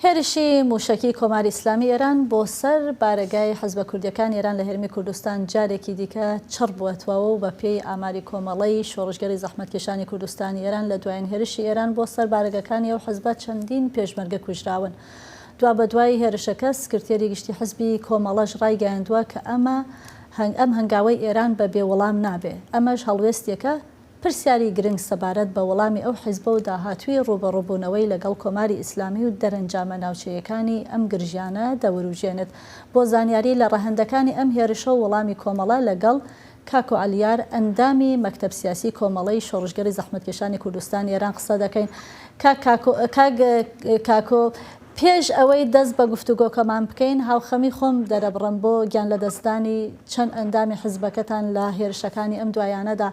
هێرشی مووشەکی کۆماری ئیسلامی ئێران بۆ سەر بارەگای حزبە کوردییەکانی ئێران لە هەرێمی کوردستان جارێکی دیکە چڕ بووەتوەوە و بە پێی ئاماری کۆمەڵەی شۆڕشگێڕی زەحمەتکێشانی کوردستانی ئێران لە دوایین هێرشی ئێران بۆ سەر بارەگەکانی ئەو حزبە چەندین پێشمەرگە کوژراون. دوابەدوای هێرشەکە سکرتێری گشتی حزبی کۆمەڵەش ڕایگەیاندووە کە ئەم هەنگاوەی ئێران بە بێ وڵام نابێ ئەمەش هەڵوێستێکە پرسیاری گرنگ سەبارەت بە وەڵامی ئەو حیزبە و داهاتووی ڕووبەڕووبوونەوەی لەگەڵ کۆماری ئیسلامی و دەرەنجامە ناوچەیەکانی ئەم گرژیانە دەورووژێنێت، بۆ زانیاری لە ڕەهەندەکانی ئەم هێرشە و وەڵامی کۆمەڵە لەگەڵ، کاکۆ عەلیار، ئەندامی مەکتەب سیاسی کۆمەڵەی شۆڕشگێڕی زەحمەتکێشانی کوردستانی ئێران قسە دەکەین. کاک کاکۆ، کاک کاکۆ پێش ئەوەی دەست بە گفتوگۆکەمان بکەین، هاوخەمی خۆم دەرەبڕم بۆ گیانلەدەستدانی چەند ئەندامی حزبەکەتان لە هێرشەکانی ئەم دوایانەدا.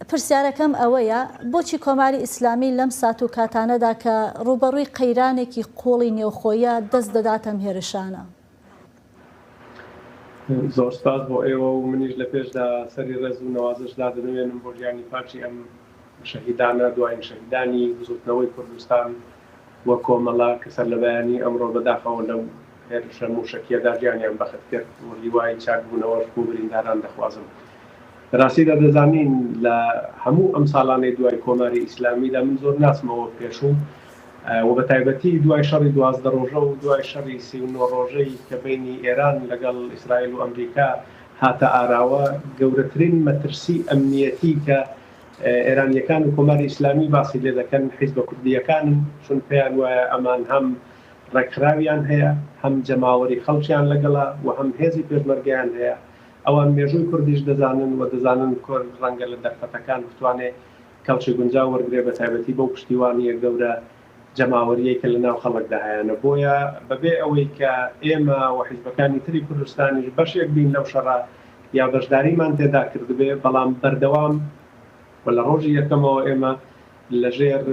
پرسیارەکەم ئەوەیە، بۆچی کۆماری ئیسلامی لەم سات و کاتانەدا کە ڕووبەڕووی قەیرانێکی قووڵی نێوخۆیە، دەست دەداتە ئەم هێرشانە؟ زۆر سپاس بۆ ئێوە و منیش لە پێشدا سەری ڕێز و نەوازش دادەنەوێنم بۆ گیانی پاکی ئەم شەهیدانە دوایین شەهیدانی بزوتنەوەی کوردستان و کۆمەڵە کە سەرلەبەیانی ئەمڕۆ بەداخەوە لەو هێرشە موشەکیەدا گیانیان بەخت کرد و هیوای چاک بونەوەش بۆ برینداران دەخوازم لەراستیدا دەزانین لە هەموو ئەم ساڵانەی دوای کۆماری ئیسلامیدا من زۆر ناچمەوە پێشوو و بە تایبەتی دوای شەڕی دوازدە ڕۆژە و دوای شەڕی سی و نۆ ڕۆژەی کە بەینی ئێران لەگەڵ ئیسرائیل و ئەمریکا هاتە ئاراوە، گەورەترین مەترسیی ئەمنییەتی کە ئێرانییەکان و کۆماری ئیسلامی باسی لێ دەکەن، حیزبە کوردییەکانن، چون پێیان وایە ئەمان هەم ڕێکخراویان هەیە، هەم جەماوەری خەڵکیان لەگەڵە و هەم هێزی پێشمەرگەیان هەیە. ئەوان مێژووی کوردیش دەزانن و دەزانن کورد ڕەنگە لە دەرفەتەکان بتوانێ کەڵکی گونجاو وەرگرێت بەتایبەتی بەو پشتیوانییە گەورە جەماوەرییەی کە لەناو خەڵکدا هەیانە بۆیە بەبێ ئەوەی کە ئێمە و حیزبەکانی تری کوردستانیش بەشێک بین لەو شەڕە یا بەشداریمان تێدا کردبێ بەڵام بەردەوام و لە ڕۆژی یەکەمەوە ئێمە لەژێر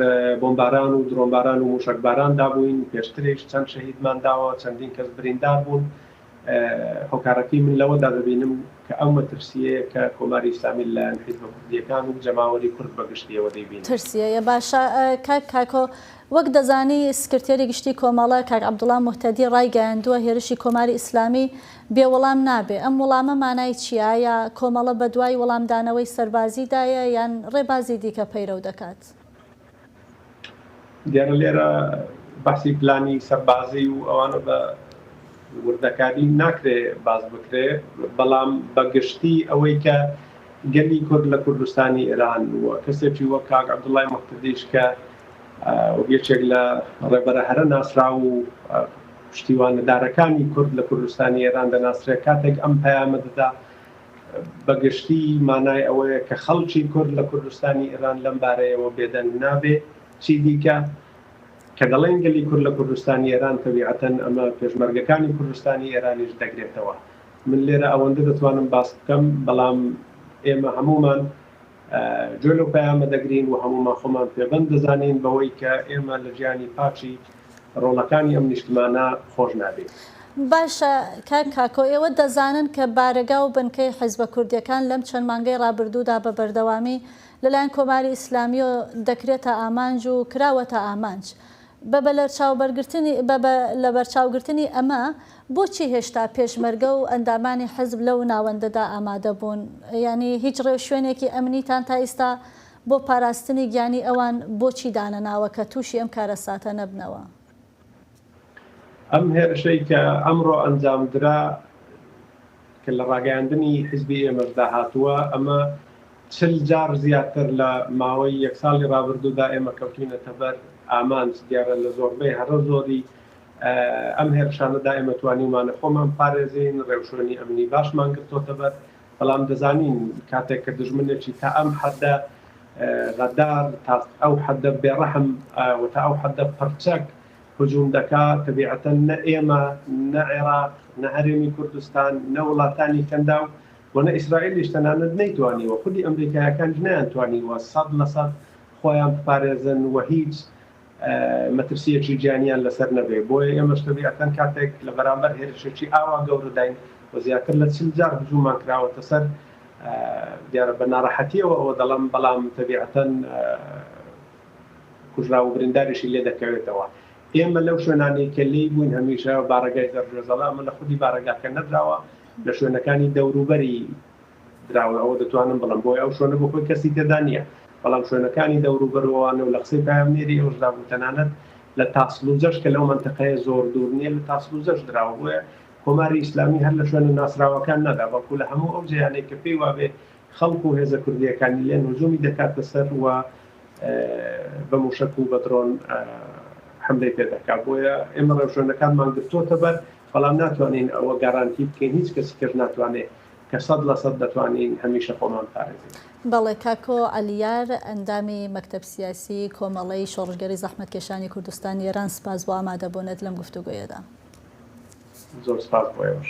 بۆمباران و درۆنباران و مووشەکباراندا بووین پێشتریش چەند شەهیدمان داوە چەندین کەس بریندار بوون هۆکارەکەی من لەوەدا دەبینم کە ئەو مەترسییەیە کە کۆماری ئیسلامی لەلایەن حیزبە کوردییەکان و جەماوەری کورد بە گشتییەوە دەیبینن. ترسییە باشە کاک کاکۆ، وەک دەزانی سکرتێری گشتیی کۆمەڵە کاک عەبدوڵا موهتەدی ڕایگەیاندووە هێرشی کۆماری ئیسلامی بێ وەڵام نابێ، ئەم وەڵامە مانای چییە؟ ئایا کۆمەڵە بەدوای وەڵامدانەوەی سەربازیدایە یان ڕێبازی دیکە پەیرەو دەکات؟ دیارە لێرە بەحسی پلانی سەربازی و ئەوانە بە وردەکاری ناکرێ باز بکرێ بەڵام بەگشتی ئەوەی کە گەلی کورد لە کوردستانی ئێران و کەسێکی وە کاک عبدوڵای مختدیش کە یەکێک لە ڕێبەرە هەرە ناسرا و پشتیوانەدارەکانی کورد لە کوردستانی ئێران دەناسرێت کاتێک ئەم پەیامە دەدا بە گشتی مانای ئەوەیە کە خەڵکی کورد لە کوردستانی ئێران لەم بارەیەوە بێدەنگ نابێ. چیدیکە کە دەڵێین گەلی کورد لە کوردستانی ئێران، تەبیعەتەن ئەمە پێشمەرگەکانی کوردستانی ئێرانیش دەگرێتەوە. من لێرە ئەوەندە دەتوانم باس بکەم، بەڵام ئێمە هەموومان گوێ لەو پەیامە دەگرین و هەموومان خۆمان پێبەند دەزانین بەوەی کە ئێمە لە ژیانی پاکی ڕۆڵەکانی ئەم نیشتمانە خۆش نابین. باشە کاک کاکۆ ئێوە دەزانن کە بارەگا و بنکەی حیزبە کوردیەکان لەم چەند مانگەی ڕابردوودا بە بەردەوامی لەلایەن کۆماری ئیسلامیەوە دەکرێتە ئامانج و کراوەتە ئامانج بە بە لەبەرچاوگرتنی ئەمە، بۆچی هێشتا پێشمەرگە و ئەندامانی حزب لەو ناوەندەدا ئامادە بوون؟ یانی هیچ ڕێوشوێنێکی ئەمنیتان تا ئیستا بۆ پاراستنی گیانی ئەوان بۆچی دانەناوە کە تووشی ئەم کارەساتە نەبنەوە؟ ئەم هێرشەی کە ئەمڕۆ ئەنجامدرا کە لە ڕاگەیاندنی حیزبی ئێمەشدا هاتووە، ئەمە چل جار زیاتر لە ماوەی یەک ساڵی ڕابردوودا ئێمە کەوتووینەتە بەر ئامانج، دیارە لە زۆربەی هەرە زۆری ئەم هێرشانەدا ئێمە توانیومانە خۆمان بپارێزین، ڕێوشوێنی ئەمنی باشمان گرتۆتەبەر، بەڵام دەزانین کاتێک کە دوژمنێکی تا ئەم حەددە غەدار، تا ئەو حەددە بێڕەحم و تا ئەو حەددە پڕچەک، هجوم دەکا، تەبیعەتەن نە ئێمە، نە عێراق، نە هەرێمی کوردستان، نە وڵاتانی کەنداو و نە ئیسرائیلیش تەنانەت نەیتوانیوە، خودی ئەمریکاییەکانیش نەیانتوانیوە سەد لە سەد خۆیان بپارێزن و هیچ مەترسییەکی گیانیان لەسەر نەبێ، بۆیە ئێمەش تەبیعەتەن کاتێک لە بەرامبەر هێرشێکی ئاوا گەورەداین و زیاتر لە چل جار هجوممان کراوەتە سەر، دیارە بە ناڕەحەتییەوە ئەوە دەڵێم، بەڵام تەبیعەتەن. کوژراو و برینداریشی لێ دەکەوێتەوە. ئێمە لەو شوێنانەی کە لێی بووین هەمیشە بارەگای زەرگوێزەڵە ئەمە لە خودی بارەگاکە نەدراوە لە شوێنەکانی دەوروبەری دراوە ئەوە دەتوانم بڵێم بۆیە ئەو شوێنە بۆ خۆی کەسی تێدا نییە بەڵام شوێنەکانی دەوروبەرەوەوانە و لە قسەی پایامنێری ئەوشدا بوو تەنانەت لە تاسڵوجەش کە لەو مەنتەقەیە زۆر دوور نییە لە تاسڵوجەش دراوە بۆیە کۆماری ئیسلامی هەر لە شوێنە ناسراوەکان نەدا بەڵکو لە هەموو ئەو جێیانەی کە پێی وابێ خەڵک و هێزە کوردییەکانی لێن هجوومی دەکاتە سەر و بە مووشەک و بە درۆن حەملەی پێ دەکات، بۆیە ئێمە ڕێوشوێنەکانمان گرتووەتە بەر، بەڵام ناتوانین ئەوە گارانتی بکەین، هیچ کەسیکەش ناتوانێ کە سەد لە سەد دەتوانین هەمیشە خۆمان بپارێزین. بەڵێ، کاکۆ عەلیار، ئەندامی مەکتەب سیاسی کۆمەڵەی شۆڕشگێڕی زەحمەتکێشانی کوردستانی ئێران، سپاس بۆ ئامادەبوونت لەم گفتوگۆیەدا. زۆر سپاس بۆ ئێوەش.